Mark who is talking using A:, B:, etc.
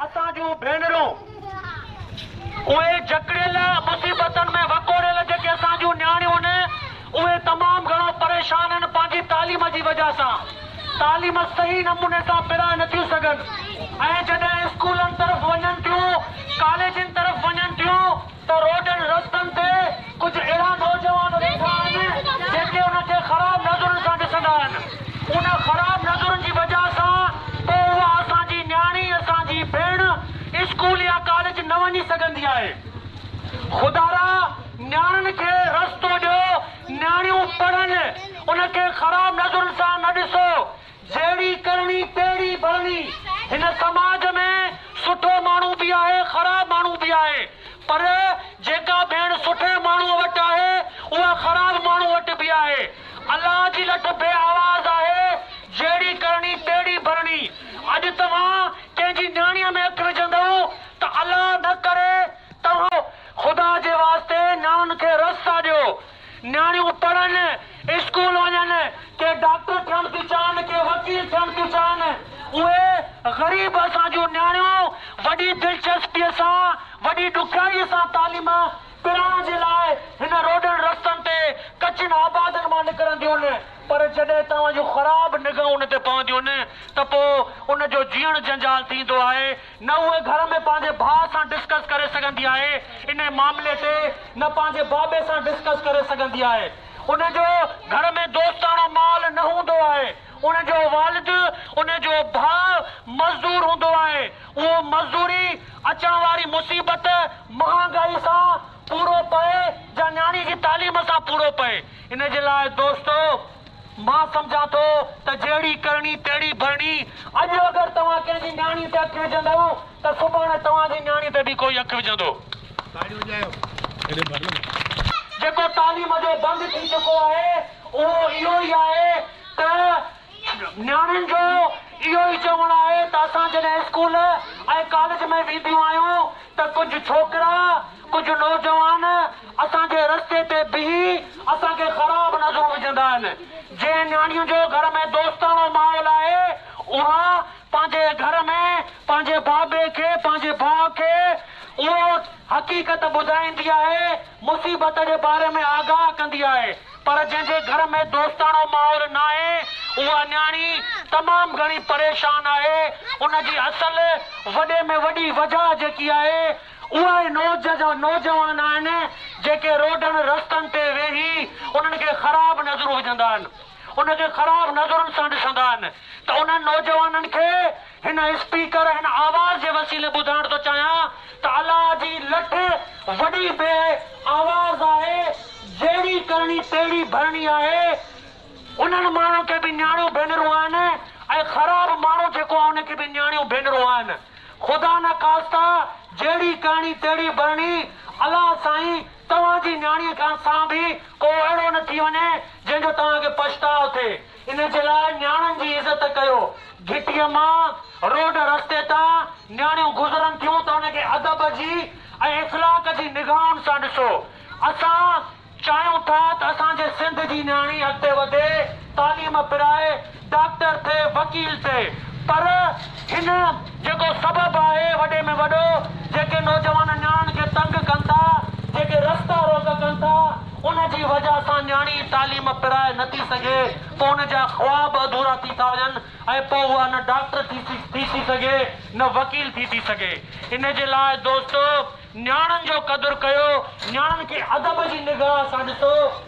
A: اسان جون ڀينرون، اهي جڪڙيل، مصيبتن ۾ وڪوڙيل جيڪي اسان جون نياڻيون هن، اهي تمام گهڻو پريشان هن پنهنجي تعليم جي وجهه سان. تعليم صحيح نموني سان پرائي نٿيون سگهن ۽ جڏهن اسڪولن طرف وڃن ٿيون، ڪاليجن طرف وڃن ٿيون، ته روڊن رستن تي ڪجهه اهڙا نوجوان ويٺا آهن جيڪي ان کي خراب نظرن سان ڏسندا آهن. ان خراب نظرن جي وجه سان پوء اها اسان جي نياڻي، اسان جي ڀيڻ اسڪول يا ڪاليج نه وڃي سگهندي آهي. خدارا نياڻين کي رستو ڏيو، نياڻيون پڙهن، ان کي خراب نظرن سان نه ڏسو. جهڙي ڪرڻي تهڙي ڀرڻي. هن سماج ۾ سٺو ماڻهو به آهي خراب ماڻهو به آهي پر جيڪا ڀيڻ سٺي ماڻهوء وٽ آهي اها خراب ماڻهوء وٽ به آهي. الله جي لٺ بي آواز آهي جهڙي ڪرڻي تهڙي ڀرڻي. اڄ توهان ڪنهن جي نياڻيء ۾ هٿ وجهندؤ ته الله نه ڪري توهان خدا جي واسطي نياڻين کي رس ٿا ڏيو. نياڻيون پڙهن، اسڪول وڃن، ڪي ڊاڪٽر ٿيڻ ٿيون چاهن، ڪي وڪيل ٿيڻ ٿيون چاهن. اهي غريب اسان جون نياڻيون وڏي دلچسپيء سان، وڏي ڏکيائيء سان تعليم پرائڻ جي لاء هن روڊن رستن تي ڪچين آبادين مان نڪرنديون، پر جڏهن توهان جون خراب نگاهون ان تي پونديون ته پوء ان جو جيئڻ جنجال ٿيندو آهي. نه هوء گهر ۾ پنهنجي ڀاء سان ڊسڪس ڪري سگهندي آهي انهي معاملي تي نه پنهنجي بابي سان ڊسڪس ڪري سگهندي آهي ان جو گهر ۾ دوستاڻو ماحول نه هوندو آهي ان جو والد ان جو ڀاء مزدور هوندو آهي اهو مزدوري اچڻ واري مصيبت مهانگائي سان پورو پئي جا نياڻي جي تعليم سان پورو پئي ان جي لاء دوستو مان سمجهان ٿو ته جهڙي ڪرڻي تهڙي ڀرڻي، اڄ اگر توهان ڪنهن جي نياڻي تي اک وجهندؤ ته سڀاڻي توهان جي نياڻي تي به ڪوئي اک وجهندو. تاڙيون وڄايو. جيڪو تعليم جو بند ٿي چڪو آهي اهو اهو ئي آهي ته نياڻين جو اهو ئي چوڻ آهي ته اسان جڏهن اسڪول ۽ ڪاليج ۾ وينديون آهيون ته ڪجهه ڇوڪرا، ڪجهه نوجوان اسان جي رستي تي بيهي اسان کي خراب نظرون وجهندا آهن. جنهن نياڻيء جو گهر ۾ دوستاڻو ماحول آهي، اها پنهنجي گهر ۾ پنهنجي بابي کي، پنهنجي ڀاء کي اهو حقيقت ٻڌائيندي آهي، مصيبت جي باري ۾ آگاهه ڪندي آهي پر جنهن جي گهر ۾ دوستاڻو ماحول ناهي اها نياڻي تمام گهڻي پريشان آهي ان جي اصل وڏي ۾ وڏي وجهه جيڪي آهي اهي نوجوان آهن جيڪي روڊن رستن تي ويهي انهن کي خراب نظرون وجهندا آهن ان کي خراب نظرن سان ڏسندا آهن ته انهن نوجوانن کي هن اسپيڪر هن آواز جي وسيلي ٻڌائڻ ٿو چاهيان ته الله جي لٺ وڏي بي آواز آهي جهڙي ڪرڻي تهڙي ڀرڻي آهي انهن ماڻهن کي به نياڻيون ڀينرون آهن ۽ خراب ماڻهو جيڪو آهي ان کي به نياڻيون ڀينرون آهن خدا نه خاسته جهڙي ڪرڻي تهڙي ڀرڻي الله سائين توهان جي نياڻي کان سان به ڪو اهڙو نه ٿي وڃي جنهن جو توهان کي پڇتاء ٿئي. ان جي لاء نياڻين جي عزت ڪيو. گهٽيء مان روڊ رستي تان نياڻيون گذرن ٿيون ته ان کي ادب جي ۽ اخلاق جي نگاهن سان ڏسو. اسان چاهيون ٿا ته اسان جي سنڌ جي نياڻي اڳتي وڌي، تعليم پرائي، ڊاڪٽر ٿئي، وڪيل ٿئي پر هن. جيڪو سبب آهي وڏي ۾ وڏو، جيڪي نوجوان نياڻين کي تنگ ڪن ٿا، جيڪي رستا روڪ ڪن ٿا، ان جي وجه سان نياڻي تعليم پرائي نه ٿي سگهي، پوء ان جا خواب اڌورا ٿي ٿا وڃن ۽ پوء اها نه ڊاڪٽر ٿي ٿي سگهي نه وڪيل ٿي ٿي سگهي. ان جي لاء دوستو نياڻين جو قدر ڪيو، نياڻين کي ادب جي نگاهه سان ڏسو.